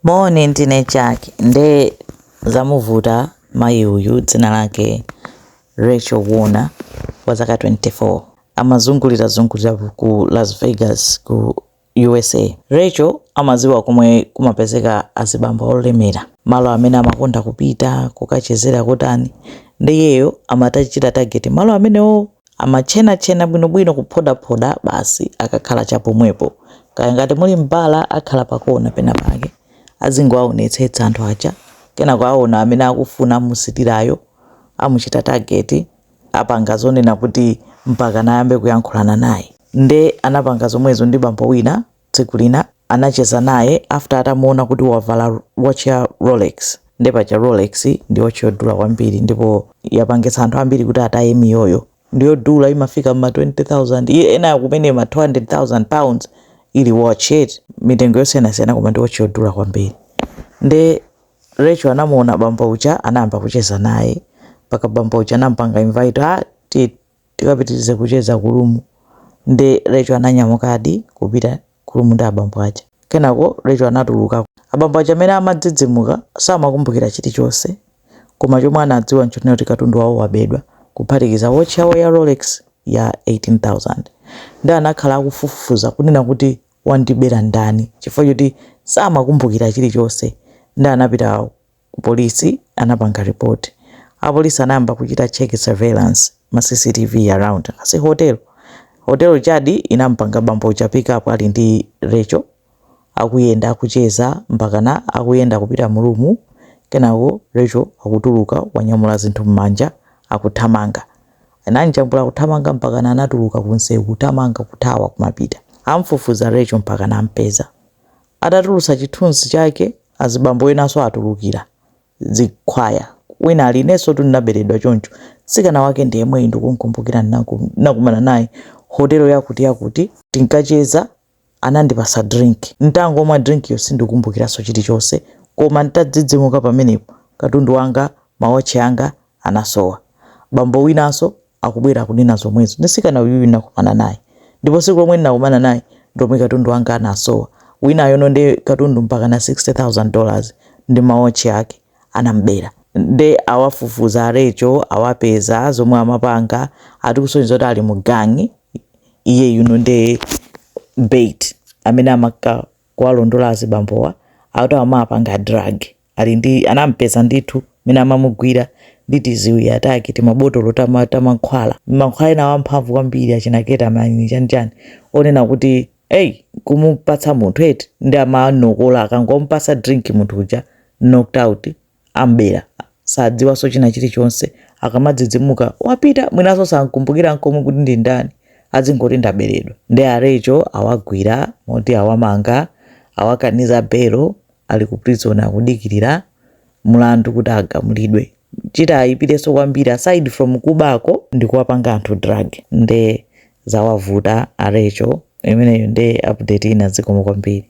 Moni ndine Jack nde zamuvuta mayi uyu dzina lake Rachel Warner wa zaka 24 amazungulirazungulira ku Las Vegas ku USA. Rachel amadziwa komwe kumapezeka azibambo olemera, malo amene amakonda kupita kukachezera kotani nde iyeyo amatachita target malo amenewo. Amatchenatchena bwinobwino kuphodaphoda basi akakhala chapomwepo. Kaya ngati muli m'bala akhala pakona penapake. Azingowaonetsetsa anthu aja. Kenako aona amene akufuna amusitirayo, amuchita target, apanga zonena kuti mpakana ayambe kuyankhulana naye. Nde anapanga zomwezo ndi bambo wina tsiku lina anacheza naye after atamuona kuti wavala watch ya Rolex nde paja Rolex ndi watch yodula kwambiri ndipo yapangitsa anthu ambiri kuti ataye miyoyo ndiyodula imafika ma 20000 iye ena kumene ma 200000 pounds ili watch iti mitengo yosiyanasiyana koma ndi watch yodula kwambiri nde Rachel anamuona bambo uja anayamba kucheza naye mpaka bambo uja anampanga invite ah ti- tikapitirize kucheza ku room nde Rachel ananyamukadi kupita ku room ndi abambo aja. Kenako Rachel anatuluka. Abambo aja mene amadzidzimuka samakumbukira chilichonse koma chomwe anadziwa nchoti kuti katundu wawo wabedwa kuphatikiza watch yawo ya Rolex ya 18,000. Nde anakhala akufufuza kunena kuti wandibera ndani chifukwa choti samakumbukira chilichonse nde anapita Ku polisi anapanga report. Apolisi anayamba kuchita check surveillance, ma CCTV around that hotel. Hotel ijadi inamupanga bambo uja pick up ali ndi Recho. Akuyenda akucheza mpakana akuyenda kupita mu room. Kenako Recho akutuluka wanyamula zinthu mmanja akuthamanga. Anamjambula kuthamanga mpakana anatuluka ku msewu kuthamanga kuthawa kumapita. Amufufuza Recho mpakana amupeza. Atatulutsa chithunzi chake, azibambo enanso atulukira chikhwaya. Wina ali, Inensotu ndinaberedwa choncho. Mtsikana wake ndi yemweyu ndikumukumbukira ndinakumana naye hotelo yakutiyakuti tinkacheza anandipatsa drink. N'tangomwa drink'yo sindikumbukiranso chilichonse koma n'tadzidzimuka pamenepo katundu wanga, mawatchi anga anasowa. Bambo winanso akubwera akunena zomwezo. Msikana uyuyu ndinakumana naye ndipo tsiku lomwe ndinakumana naye ndilomwe katundu wanga anasowa. Winayono nde katundu mpakana 60,000 dollars ndi ma watch ake anamubera. Nde awafufuza a Rachel awapeza zomwe amapanga ati kusonyeza kuti ali mu gang. Iyeyuno nde bait amene amakka kuwalondola azibambowa akuti amawapanga drug. ali ndi anampeza ndithu mene amamugwira ndi tiziwiya take timabotolo tama- tamankhwala mankhwala ena amphamvu kwambiri achina ketamine chanichani wonena kuti eyi kumupatsa munthu eti nde amanokola akangompatsa drink munthu uja knocked out ambera sadziwanso china chilichonse akamadzidzimuka wapita mwinanso sankumbukira nkomwe kuti ndi ndani adzingoti ndaberedwa nde a Rachel awagwira moti awamanga awakaniza belo ali ku prison akudikirira mlandu kuti agamulidwe chitaayipirenso kwambiri aside from kubako ndikuwapanga anthu drug nde zawavuta a Rachel imeneyo nde update ina zikomo kwambiri